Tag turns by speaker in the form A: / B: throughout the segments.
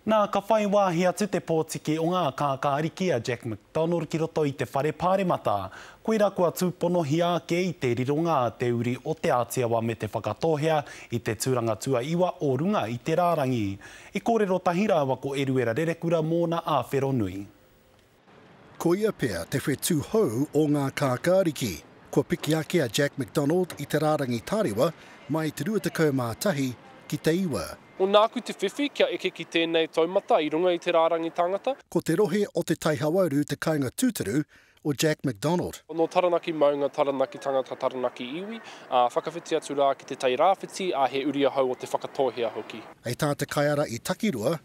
A: Nā, ka whai wāhi atu te pōtiki o ngā kākāriki a Jack McDonald ki roto i te whare pāremata. Koirā kua tūponohia ake i te rironga te uri o Te Āti Awa me Te Whakatōhea i te tūranga tuaiwa o runga i te rārangi. I kōrero tahi rāua ko Eruera Rerekura mōna āwhero nui.
B: Koia pea te whetū hou o ngā kākāriki. Kua piki ake a Jack McDonald i te rārangi tarewa mai i te 21 ki te 9. Ko nāku te whiwhi
C: kia eke ki tēnei taumata i runga i te rārangi tāngata. Ko te rohe o Te
B: Tai Hauauru te kāinga tūturu o Jack McDonald. Nō Taranaki maunga,
C: Taranaki tangata, Taranaki iwi, ā, whakawhiti atu rā ki Te Tai Rāwhiti, ā, he uri ahau o Te Whakatōhea hoki. Hei tā te kaiara
B: i Takirua,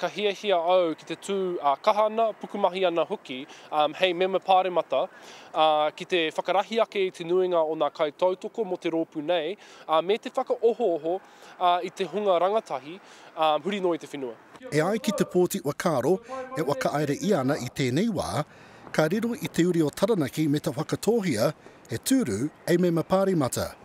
D: Ka hiahia
C: au ki te tū ā kaha ana, pukumahi ana hoki hei mema pāremata, ā, ki te whakarahi ake i te nuinga o ngā kaitautoko mō te rōpū nei, ā, me te whakaohooho ā i te hunga rangatahi, ā, huri noa i te whenua. E ai ki Te Pōti
B: Whakaaro, e whakaaere ia ana i tēnei wā, ka riro i te uri o Taranaki me te whakatōhia he tūru hei mema pāremata.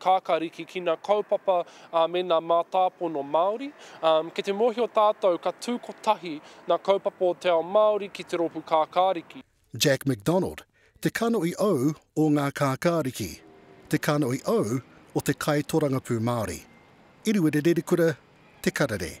C: Kākā Rikikina kaupapa me ngā mātāpono Māori. Kei te mōhio tātou ka tū kotahi ngā kaupapa o te ao Māori ki te rōpū Kākāriki. Jack McDonald,
B: te kanohi ou o ngā Kākāriki, te kanohi ou o te Kaitōrangapū Māori. Iriwere Rerekura, Te Karere.